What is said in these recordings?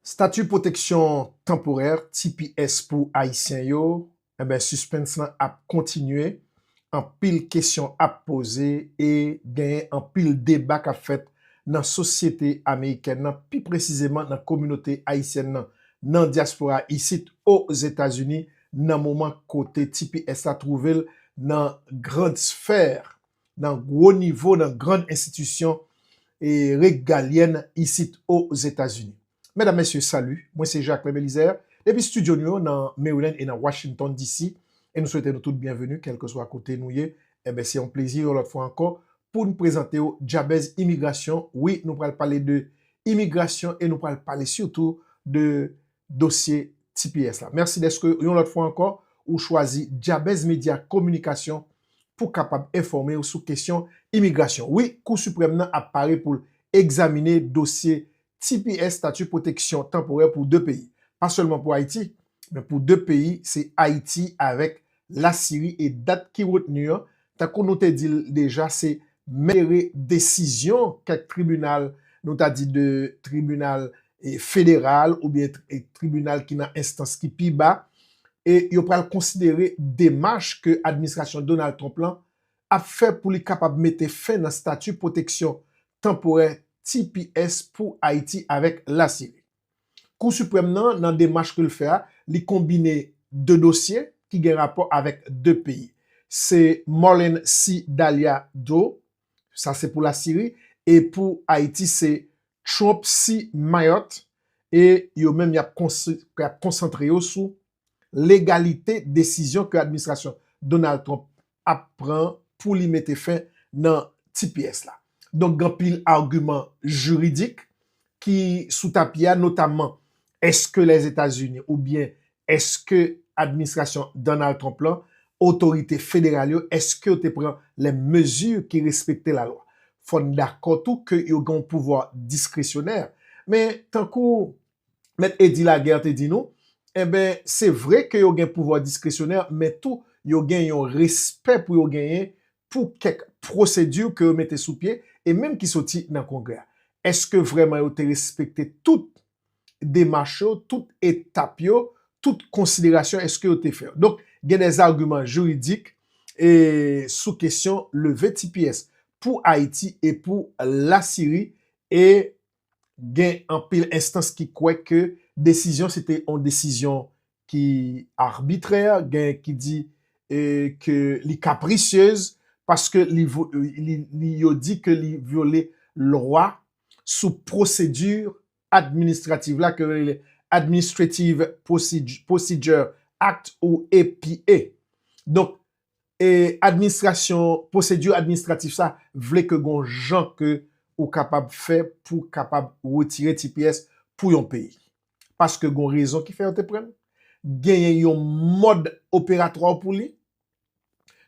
Stati Pwoteksyon Tanporè, tps, pou Ayisyen yo, enben sispens lan ap kontinye, anpil kesyon ap poze e genyen anpil deba k ap fèt nan sosyete amerikèn nan, pi presizeman nan kominote ayisyèn nan nan dyaspora isit o Zetazini nan moman kote tps la twouve l nan grande sphère. nan gwo nivo nan grand enstitisyon regalyèn isit o Zetazini. Medam, Mesye, salu, mwen se Jacques Lem Elizer, depi studio nou yo nan Maryland e nan Washington DC, e nou swete nou tout byenveni kèlkeswa kote nou ye, enben se yon plezi yon lòt fwa ankò poun prezantew Djabèz Imigrasyon, wi nou pral pale de imigrasyon e nou pral pale sitou de dosye tps la. Mèsi dèske yon lòt fwa ankò ou chwazi Dyabèz Medya Kominikasyon pou kapab enfòme ou sou kesyon imigrasyon. Wi, Kou Siprèm nan ap pare pou l egzamine dosye tps, Stati Pwoteksyon Tanporè, pou 2 peyi. Pa sèlman pou Ayiti, men pou 2 peyi, se Ayiti avèk Lasiri e dat ki retni an, tankou nou te di l deja se malgre desizyon kèk tribinal, nou ta di de tribinal federal oubyen tribinal ki nan enstans ki pi ba, e yo pral konsidere demach ke administrasyon Donald Trump lan ap fè pou li kapab mete fen nan stati pwoteksyon tanporè tps pou Ayiti avèk Lasiri. Kou Siprèm nan, nan demach ke l fè a, li konbine 2 dosye ki gen rapò avèk 2 peyi. Se Marlene C. Dalia Dro, sa se pou Lasiri, e pou Ayiti se Trump C. Mayotte, e yo menm y ap konsantre yo sou legalite desizyon ke administrasyon Donald Trump ap pran pou li mete fen nan tps la. Donk gen anpil agiman jiridik ki sou tapi a notamman eske Lèzetazini oubyen eske administrasyon Donald Trump lan, otorite federal yo eske yo te pran lè mezi ki respekte lalwa. Fò n dakò tou ke yo gen yon pouvwa diskresyonè men tankou Mèt Eddy Laguerre te di nou, enben, se vre ke yo gen pouvwa diskresyonè, men tou yo gen yon respè pou yo genyen pou kèk pwosedi ke yo mete sou pye, e menm ki soti nan Kongrè a. Èske vrèman yo te respekte tout demach yo, tout etap yo, tout konsiderasyon èske yo te fè yo? Donk, gen dè zagiman jiridik e sou kesyon leve tps pou Ayiti e pou Lasiri e gen anpil enstans ki kwè ke desizyon se te yon desizyon ki arbitrè, gen ki di ke li kaprisyez paske yo di ke li vyole lwa sou pwosedi administrativ la ke yo rele Administrative Procedure Act ou APA. Donk, e administrasyon pwosedi administratif sa vle ke gon jan ke ou kapab fè pou kapab retire tps pou yon peyi. Paske gon rezon ki fè yo te prann, genyen yon mòd operatwa w pou li,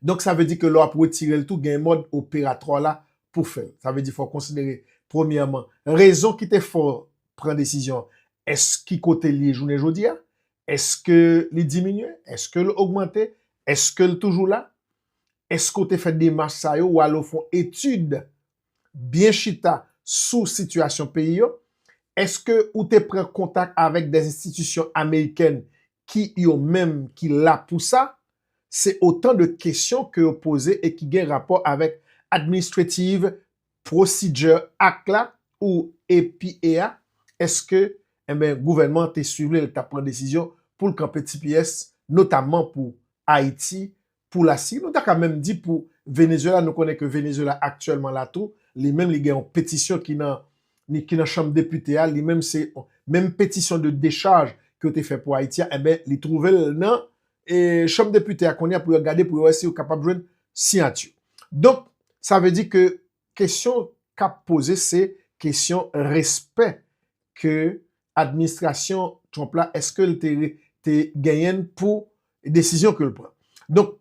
donk sa vle di ke lè w ap retire l tou genyen mòd operatwa w la pou fè l. Sa vle di fò w konsidere premyèman rezon ki te fè w pran desizyon an, èske ki kote li ye jounen jodi a, Eske li diminye? Eske l ogmante? Eske l toujou la? Eske w te fè demach sa yo ou ale w fè yon etid byen chita sou sitiyasyon peyi yo? Eske ou te pran kontak avèk dè enstitisyon amerikèn ki yo menm ki la pou sa? Se otan de kesyon ke yo poze e ki gen rapò avèk administrative Procedure Act la ou EPA a, eske enben gouvènman an te swiv li lè li t ap pran desizyon pou l kanpe tps notamman pou Ayiti, pou Lasiri, nou ta ka menm di pou Venezuela, nou konnen ke Venezuela aktyèlman la tou, li menm li gen yon petisyon ki nan ni ki nan chanm depite a, li menm se menm petisyon de decharge ke yo te fè pou Ayiti a, enben li twouve l nan e chanm depite a kounye a pou yo gade pou yo wè si yo kapab jwenn siyati. Donk, sa vle di ke kesyon k ap poze se kesyon respè ke administrasyon Trump la eske l te genyen pou desizyon ke l pran. Donk,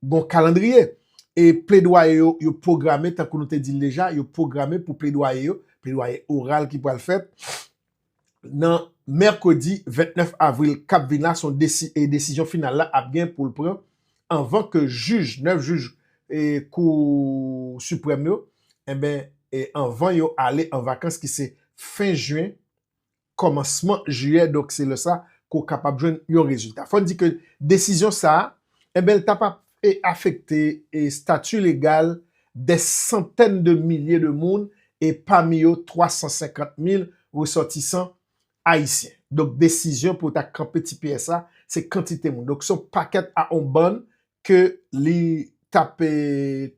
gon kalandriye e pledwaye yo, yo pwograme tankou nou te di l deja, yo pwograme pou pledwaye yo, pledwaye oral ki pral fèt, nan mèkredi 29 avril k ap vin la son e desizyon final la ap gen pou l pran anvan ke jij 9 jij kou siprèm yo enben anvan yo ale an vakans ki se fen jen kòmansman jiyè donk se lè sa ke w kapab jwenn yon rezilta fò n di ke desizyon sa enben l ta pa e afekte estati legal dè santèn de milye de moun e pami yo 350 mil resòtisan ayisyen. Donk desizyon pou yo ta kanpe tps la se kantite moun. Donk se yon pakèt a yon bann ke li t ap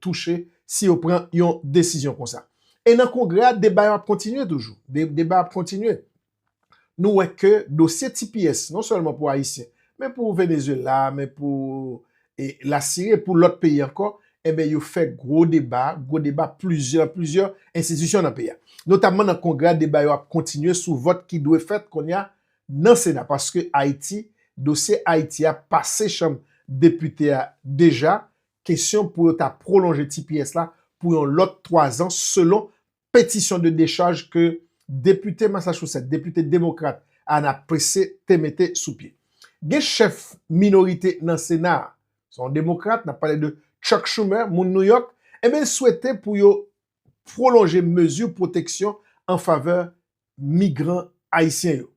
touche si yo pran yon desizyon konsa. E nan kongrè a deba yo ap kontinye toujou. Deba yo ap kontinye. nou wè ke dosye tps non sèlman pou Ayisyen, men pou Venezuela, men pou la Syrie, pou lòt peyi ankò, enben yo fè gwo deba, gwo deba plizyè, plizyè enstitisyon nan peyi a. Notamman nan Kongrè a deba yo ap kontinye sou vòt ki dwe fèt kounye a nan Sena paske Ayiti, dosye Ayiti a pase chanm depite a deja, kesyon pou yo ta pwolonje tps la pou yon lòt 3 zan selon petisyon de dechaj ke depite Massachusetts, depite demokrat Ana Pesse te mete sou pye. Gen chèf minorite nan Sena a, se yon demokrat, n ap pale de Chuck Schumer, moun New York, enben l swete pou yo pwolonje mezi pwoteksyon an favè migran ayisyen yo.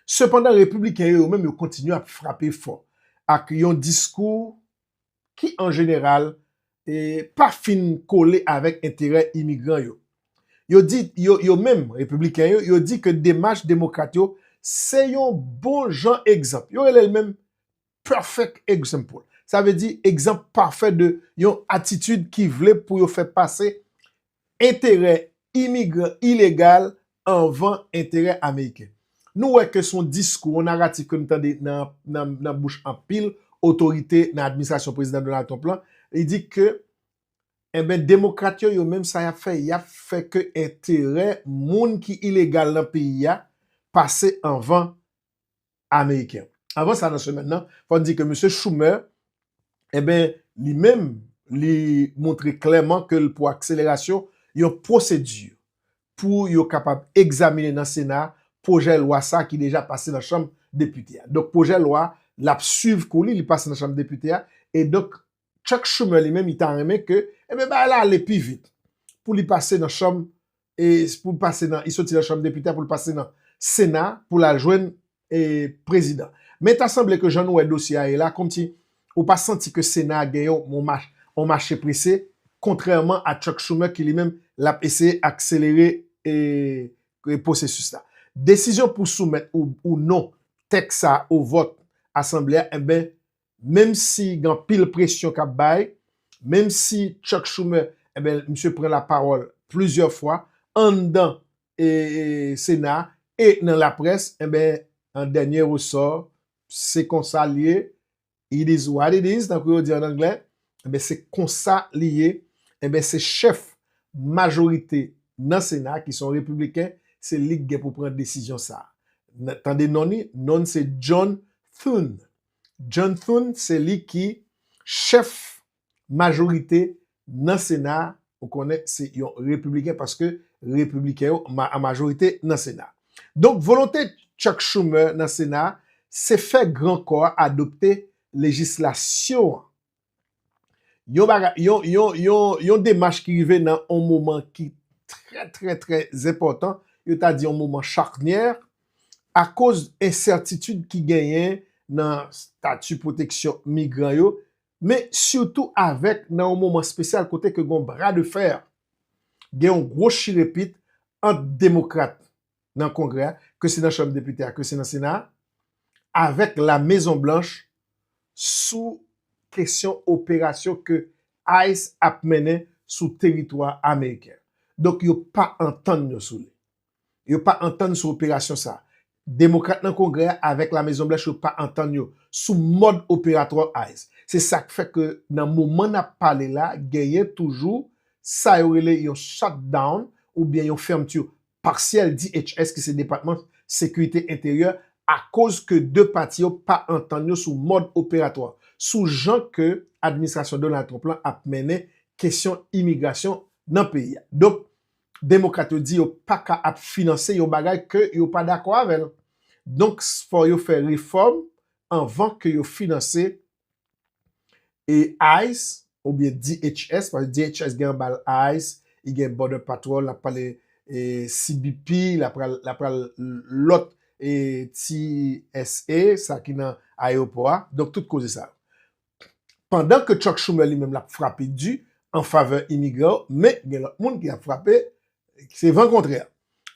Sepandan repibliken yo yo menm yo kontinye ap frape fò ak yon diskou ki an jeneral pa fin kole avèk enterè imigran yo. Yo di, yo menm, Repibliken yo, yo di ke demach Demokrat yo se yon bon jan egzanp. Yo rele l menm perfect example. Sa vle di egzanp pafè de yon atitid ki vle pou yo fè pase enterè imigran ilegal anvan enterè ameriken. Nou wè ke son diskou, on naratif ke nou tande nan bouch anpil otorite nan administrasyon Prezidan Donald Trump lan, li di ke enben demokrat yo, yo menm sa yap fè, yap fè ke enterè moun ki ilegal nan peyi a pase anvan ameriken. Avan sa nan semèn nan, fò n di ke Misye Schumer, eben, li menm, li montre klèman ke l pou akselerasyon yon pwosedi pou yo kapab egzaminen nan Sena pwojè lwa sa ki deja pase nan Chanm Depite a. Donk pwojè lwa l ap swiv kou li, li pase nan Chanm Depite a, e donk Chuck Schumer li menm li ta renmen ke enben bagay la ale pi vit pou li pase nan chanm e pou li pase nan, li soti nan chanm depite a pou li pase nan sena pou l al jwenn e prezidan. Men ta sanble ke jan nou wè dosye a ye la kòmsi ou pa santi ke sena a gen yon yon mach yon mache prese kontrèman a Chuck Schumer ki li menm l ap eseye akselere e e pwosesis la. Desizyon pou soumèt ou ou non tèks sa a o vòt asanble a enben menm si gen anpil presyon k ap bay, menm si Chuck Schumer, enben, misye pran lapawòl plizyè fwa anndan Sena a e nan laprès, enben, an dènye resò, se konsa l ye, it is what it is, tankou yo di an anglè, enben, se konsa li ye, enben, se chèf majorite nan Sena a ki se yon Repibliken, se li ki gen pou pran desizyon sa a. Tande non li, non li se John Thune. John Thune se li ki chèf majorite nan sena a, ou konnen se yon repibliken paske repibliken yo an majorite nan sena a. Donk volonte Chuck Schumer nan sena a se fè gran kò a adopte lejislasyon an yon bagay, yon, yon, yon, yon demach ki rive nan yon moman ki trè, trè, trè zenpòtan, yo ta di yon moman chaknyè, akoz ensètitid ki genyen nan stati pwoteksyon migran yo, men sitou avèk nan yon moman spesyal kote ke gen yon bra de fè, gen yon gwo chirepit ant demokrat nan Kongrè a, ke se nan Chanm Depite a, ke se nan Sena a, avèk La Mezon Blanch sou kesyon operasyon ke ice ap mennen sou teritwa ameriken an. Donk yo pa antann yo sou li. Yo pa antann sou operasyon sa a. Demokrat nan Kongrè a avèk La Mezon Blanch yo pa antann yo sou mòd operatwa ice. Se sa k fè ke nan moman n ap pale la, genyen toujou sa yo rele yon shutdown oubyen yon fermeture paksyèl DHS ki se Depatman Sekirite Enteryè akoz ke 2 pati yo pa antann yo sou mòd operatwa sou jan ke administrasyon Donald Trump lan ap mennen kesyon imigrasyon nan peyi a. Donk, Demokrat yo di yo pa ka ap finanse yon bagay ke yo pa dakò avè l. Donk, fò yo fè refòm anvan ke yo finanse E ice oubyen DHS paske DHS gen anba l ice, li gen Border Patrol, l ap pale CBP, l ap pral lòt TSA sa ki nan ayewopò a, donk tout koze sa yo. Pandan ke Chuck Schumer li menm l ap frape di an favè imigran yo, men gen lòt moun ki ap frape Se van kontrè.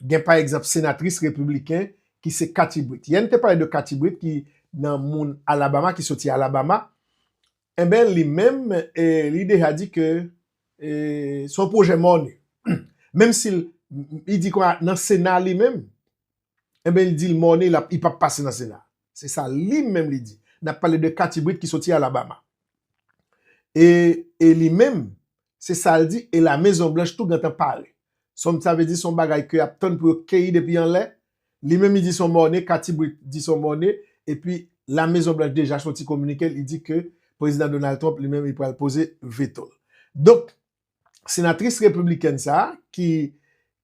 Gen pa egzanp senatris repibliken ki se Kathy Britt. Yè n te pale de Kathy Britt ki nan moun Alabama, ki soti Alabama. Enben li menm li deja di ke se yon pwojè mòne. Menm si li di kwa nan sena li menm, enben li di li mòne li pap pase nan sena. Se sa li menm li di. Nap pale de Kathy Britt ki soti Alabama. E li menm Se sa l di, e Lamezon Blanch tou gentan pare. Sonm sa vle di se yon bagay ke y ap tann pou yo keyi depi anlè. Li menm li di se yon mòne, Kathy Britt di se yon mòne, epi Lamezon Blanch deja soti kominike li di ke Prezidan Donald Trump li menm li pral poze veto l. Donk, senatris repiblikèn sa a ki